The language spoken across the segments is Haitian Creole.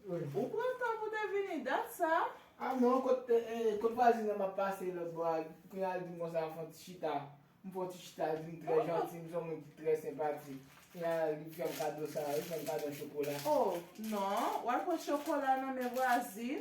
Ou pran tan pou te vini dat sa? A non, kot vwazin nan map pase lòt bò a, pou n al di m konsa al fè yon ti chita. M fè yon ti chita, l di m trè janti, m se yon moun ki trè senpatik. Kounya li fè m kado sa, li fè m kado chokola. O, non, w al pran chokola nan men vwazin.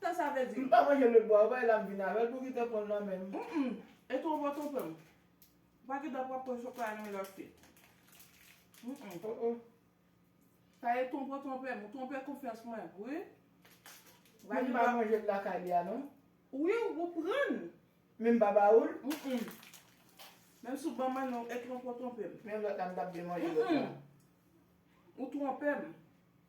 Sa sa vle di? M pa manje lèt bwa yo bay la m vin avèl pou kite pranl nan menm. Humm e two bon tonton m. Pa gen dat wap pran chokla nan men lòt fi. Humm. Oh oh. Sa e tonbo tonpem ou tonpe konfyans mwen wi. Men m pa manje l lakay li a non. Wi ou prann. Men m pa ba ou l. Humm. Menm si w banm an non e tronpo tonpem. Menm lòt la m tap byen manje lòt la. Humm. Ou twonpem.